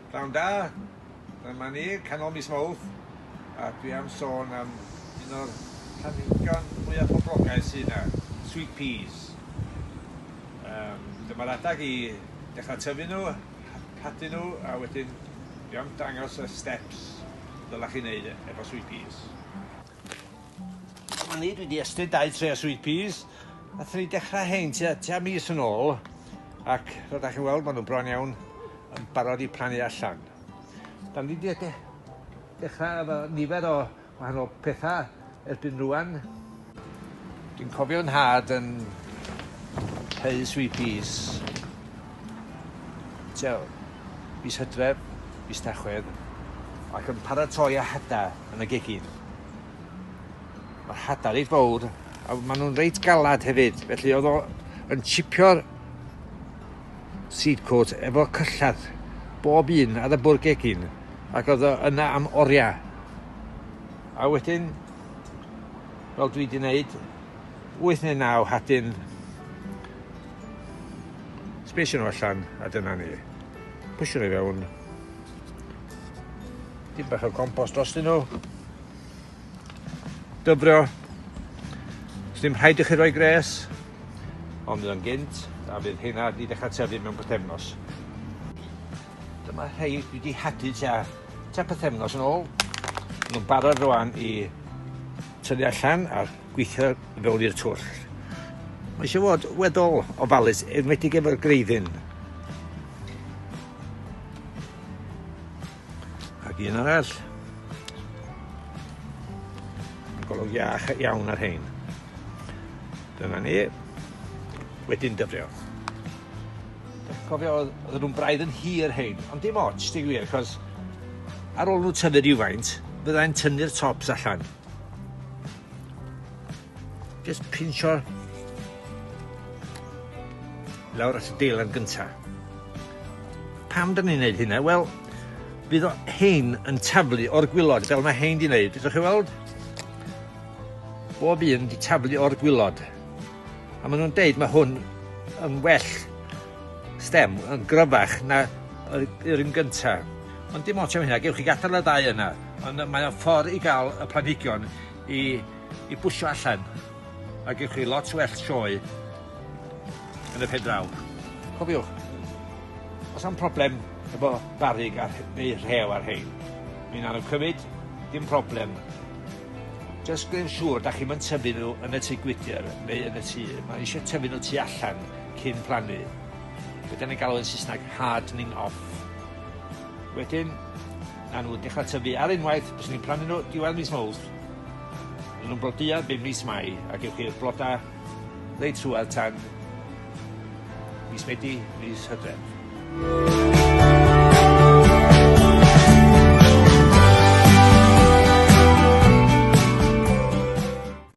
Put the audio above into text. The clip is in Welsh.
Pnawn da, dyma ni, canol mis Mawrth, a dwi am sôn am un o'r planhigion mwyaf poblogaidd sydd yna, sweet peas. Um, dyma'r adag i dechrau tyfu nhw, hadu nhw, a wedyn dwi am dangos y steps dylech chi wneud efo sweet peas. O'n i dwi 'di estyn dau tre o sweet peas nathon ni dechra rhein tua tua mis yn ôl ac fel 'dach chi'n weld ma' n'w bron iawn yn barod i plannu allan. 'Dan ni 'di de- dechra efo nifer o wahanol petha erbyn rŵan. Dwi'n cofio 'yn nhad yn hau sweet peas Tua mis Hydref, mis Tachwedd, ac yn paratoi â hada yn y gegin. Mae'r hada reit fawr a maen nhw'n reit galad hefyd, felly oedd o yn chipio'r seed coat efo cyllad bob un ar y bwrdd gegin ac oedd o yna am oriau. A wedyn, fel dwi wedi wneud, 8 neu 9 hadyn Sbesio nhw allan, a dyna ni. Pwysio nhw i fewn. Dim bach o compost dros nhw. Dyfrio. Os ddim rhaid i chi roi gres, ond fydd o'n gynt, a fydd hynna wedi dechrau tyfu mewn pythefnos. Dyma rhai dwi wedi hadu tua, tua pythefnos yn ôl. Nhw'n barod rwan i tyfu allan a'r gweithio fewn i'r twll. Mae eisiau fod weddol ofalus, enwedig efo'r greiddyn. Ac un arall. Mae'n golwg iach iawn ar hein. Dyna ni. Wedyn dyfrio. Cofio, oedd nhw'n braidd yn hir hein, ond dim ots, dim wir, achos ar ôl nhw tyfu rhywfaint, byddai'n tynnu'r tops allan. Just pincho lawr at y deilen gynta. Pam dyn ni'n neud hynna? Wel, bydd o hein yn taflu o'r gwylod, fel mae hein di wneud. Ydych chi weld? Bob un di taflu o'r gwylod. A maen nhw'n deud mae hwn yn well stem, yn gryfach na yr un gyntaf. Ond dim ots am hynna, gewch chi gadael y ddau yna. Ond mae o'n ffordd i gael y planhigion i, i bwsio allan. A gewch chi lot well sioe yn y pen draw. Cofiwch, os am problem efo barig ar, neu rhew ar hein, mi'n anodd cymryd, dim problem. Just gwneud siŵr da chi'n tyfu nhw yn y tŷ gwydr neu yn y tŷ. Mae eisiau tyfu nhw tu allan cyn plannu. Be da ni'n galw yn Saesneg hardening off. Wedyn, na nhw dechra tyfu ar unwaith, fyswn i'n plannu nhw diwedd mis Mowrth, ma' nhw'n blodeuo bum mis Mai, a gewch chi'r bloda reit trwadd tan mis Medi, mis Hydref.